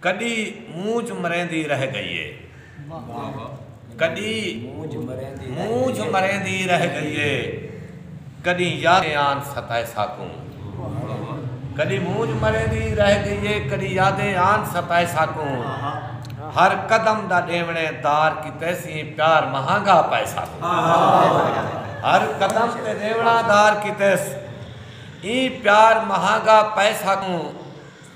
کݙی مونجھ مریندی رہ ڳئی اے کݙی مونجھ مریندی رہ ڳئی اے کݙی یادیں آن ستائے ساکوں کݙی مونجھ مریندی رہ ڳئی اے کݙی یادیں آن ستائے ساکوں ہر قدم دا ݙیوݨے دار کیتے سئیں پیار مہانگا پائے ساکوں ہر قدم تے ݙیوݨا دار کیتے سئیں پیار مہانگا پائے ساکوں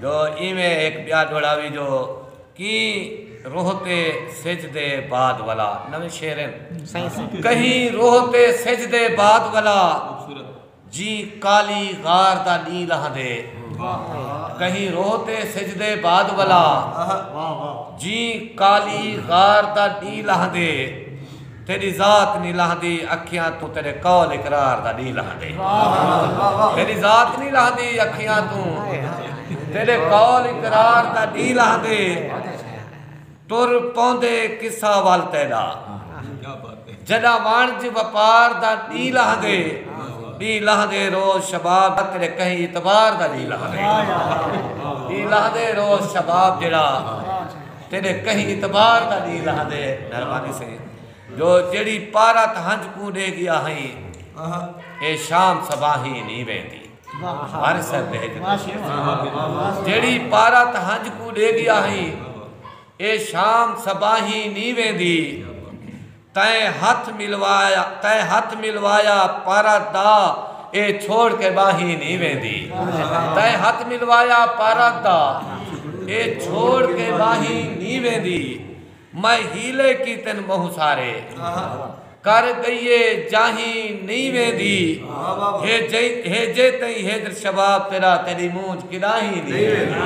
جو ایویں ہک ٻیا دوہڑاوی جو کہیں روہ تے سجھ دے بعد ولا نویں شعر ہن کہیں روہ تے سجھ دے بعد ولا جیں کالی غار دا ݙینہہ لہندے کہیں روہ تے سجھ دے بعد ولا جیں کالی غار دا ݙینہہ لہندے۔ تیݙی ذات نی لہندی اکھیاں توں تیݙے قول اقرار دا ݙینہہ لہندے تیݙی ذات نی لہندی اکھیاں توں تیݙے قول اقرار دا ݙینہہ لہندے ٹر پوندے قصہ ول تیݙا جݙاں وݨج وپار دا ݙینہہ لہندے ݙینہہ لہندے روز شباب دا تیݙے کہیں اعتبار دا ݙینہہ لہندے ݙینہہ لہندے روز شباب جیڑھا تیݙے کہیں اعتبار دا ݙینہہ لہندے مہربانی سئیں جو جیڑھی پارت ہنج کوں ݙے ڳیا ہئیں اے شام صباحیں نی ویندی وار صاحب بھیج دے جیڑھی پارت ہنج کوں ݙے ڳیا ہئیں اے شام صباحیں نی ویندی تئیں ہتھ ملوایا تئیں ہتھ ملوایا پارا دا اے چھوڑ کے ٻاہیں نی ویندی تئیں ہتھ ملوایا پارا دا اے چھوڑ کے ٻاہیں نی ویندی میں حیلے کیتن ٻہوں سارے کر ڳئیے جاہیں نی ویندی ہے جے تئیں ہیجر شباب تیرا تیݙی مونجھ کݙاہیں نی ویندی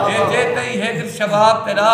ہے جے تئیں ہیجر شباب تیرا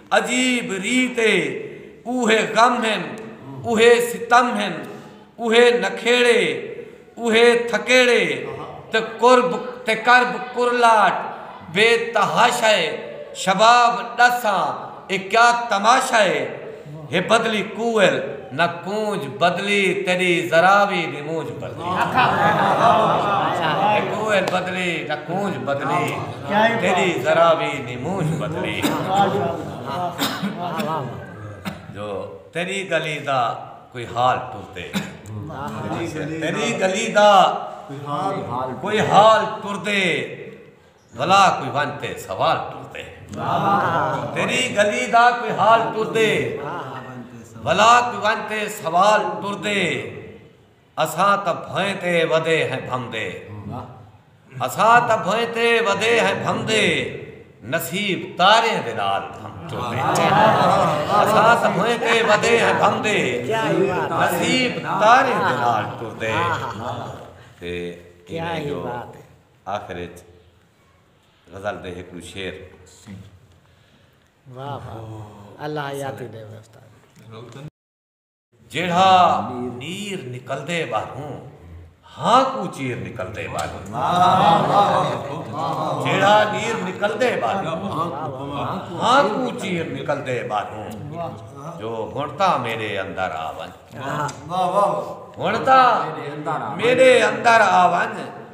عجیب ریت اے اوہے غم ہن اوہے ستم ہن اوہے نکھیڑے اوہے تھکیڑے تے قرب تے کرب قرلاٹ بے تحاشا اے شباب ڈس آں اے کیا تماشا اے ہے بدلی کوئل نہ کونج بدلی تیڈی ذرا وی نی مونج بدلی نہ کوئل بدلی نہ کونج بدلی تیڈی ذرا وی نی مونج بدلی جو تیڈی گلی دا کوئی حال ٹردے تیڈی گلی دا کوئی حال ٹردے۔ بھلا کوئی ونج تے سوال ٹردے۔ تیری گلی دا کوئی حال ٹردے۔ بھلا کوئی ونج تے سوال ٹردے۔ اساں تاں بھوئیں تے ودے ہیں بھمدے۔ اساں تاں بھوئیں تے ودے ہیں بھمدے۔ نصیب تاریاں دے نال بھم ٹردے۔ اساں تاں بھوئیں تے ودے ہیں بھمدے۔ نصیب تاریاں دے نال ٹردے۔ تے ایہ جو۔ آخر اچ غزل دے ہکڑو شعر۔ سیں۔ واہ واہ اللہ حیاتی ڈیوے استاد۔ جیڑھا نیر نکلدے ٻاہروں ہاں کوں چیر نکلدے ٻاہروں۔ جیڑھا نیر نکلدے ٻاہروں ہاں کوں چیر نکلدے ٻاہروں۔ جو ہن تاں میݙے اندر آ ونڄ۔ ہن تاں میݙے اندر آ ونڄ۔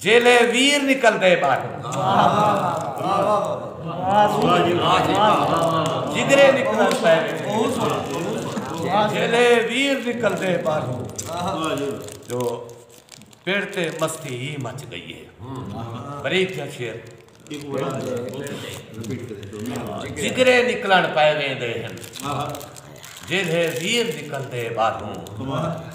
جیلے ویر نکلدے باہر جدرے نکلن پے جیلے ویر نکلدے باہر جو پنڈ تے مستی ہی مچ گئی ہے بریک یا شیر جدرے نکلن پے ویندے ہیں جیلے ویر نکلدے باہر